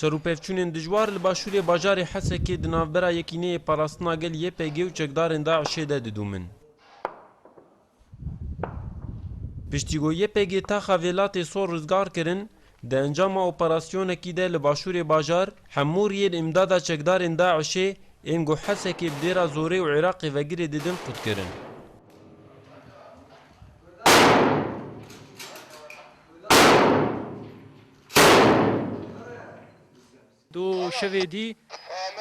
Şerûpevçûnên dijwar li başûrê bajarê Hesekê di navbera Yekîneyê Parastina Gel YPG û çekdarên DAIŞ'ê de didûmin. Piştî ku YPG taxa Vêlatê Sor rizgar kirin, di encama operasyonekî de li başûrê bajar hemû riyên îmdada çekdarên DAIŞ'ê ên ku Hesekê bi dêra Zorê û Iraqê vegirê didin qutkirin. Do şevê dî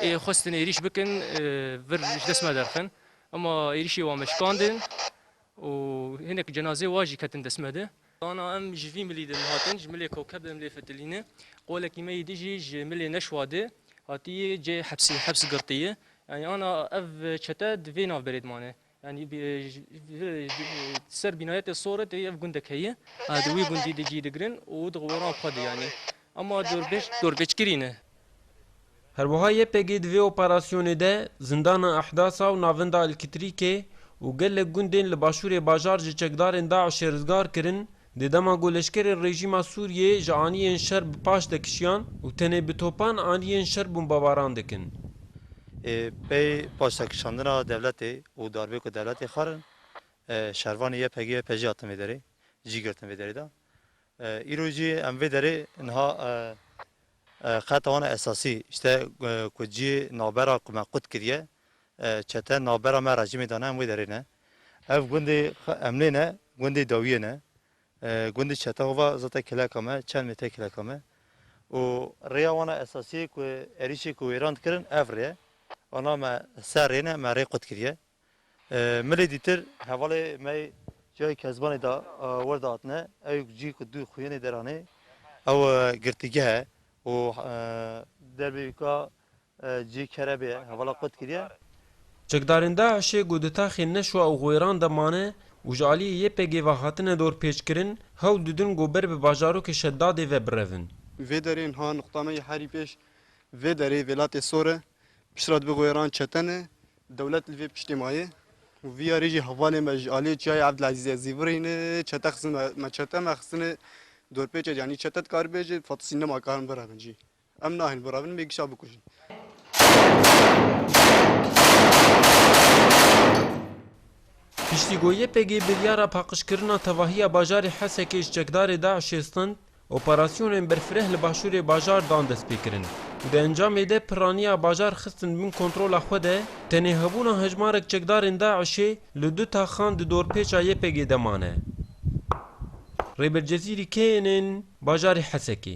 ê xwestin êrîş bikin vir ji dest me derxin. Ema êrîşê wan me şikandin û hinek cenazê wan jî ketin dest me de. Dana em ji vî milî de hatin, ji milê Kokeb de milê Fitilîne. Qolekî me yê dijî ji milê Neşwa de hatiye cihê hepsê, heps girtiye. Yanî ana ev çete di vê navberê de mane. Yanî bi ser bînayetê Sore tê ev gundek heye. Di wî gundî de cî digirin û di weran xwe de yanî. Ema dorpêç dorpêçkirî ne. Her wiha YPG di vê operasyonê de zindana Ehdasa û navinda Ilkitrîkê û gelek gundên li başûrê bajar ji çekdarên DAIŞ'ê rizgar kirin Di dema ku leşkerên rejîma Sûriyê ji aniyên şer bi paş de kişiyan û tenê bi topan aniyên şer bombebaran dikin. Ê pey paşdekişandina dewletê û darbê ku dewletê xwe kirin, şervanê YPG, YPJ hatin vê derê cî girtin vê derê de. Îro jî em vê derê niha qeta wana esasî, ji te ku cî navbera ku me qut kiriye, Çete navbera me rejîmê dane em wê derê ne. Ev gundê Emlê ne, gundê dawiyê ne. Gundê çete hova zete kileka me, çelmê tê kileka me. Û rêya wana esasiyê ku êrîşê ku wêran dikirin ev rê ye. Ana me ser rê ne, me rê qut kiriye. Milê dîtir hevalê me yê Cihayê Kezbanê de wir de hatine. Ew cî ku du xuyênê deranê ew girtîgehe û derbê wî ka Cî kere bê hevala qut kiriye. Çekdarên DAIŞ'ê ku di taxê Neşwa û Xwêran de mane û ji aliyê YPG'ê ve hatine dorpêçkirin, hewl didin ku ber bi bajarokê Şeddadê ve birevin. Vê derê niha nuqta me yê herî pêş vê derê vêlatê sor e, piştre dibe Xwêran çeten e, dewlet li vê piştê maye û vî yarê jî hevalên me ji aliyê Çiyayê Evdilezîzê zîvirî ne, çete xizin me, me çete me xizine dorpêçê canî çete dikaribê jî fatisî nema karin birevin cî. Em nahên birevin mêgişa bikujin. Piştî ku YPG biryara paqijkirina tevahiya bajarê Hesekê ji çekdarê DAIŞ'ê stend, operasyonên berfireh li başûrê bajar dan destpêkirin û di encamê de pirraniya bajar xistin bin kontrola xwe de, tenê hebûna hejmarek çekdarên DAIŞ'ê li du taxan di dorpêça YPG'ê de mane. Rêber Cezîrî keyên ên bajarê Hesekê.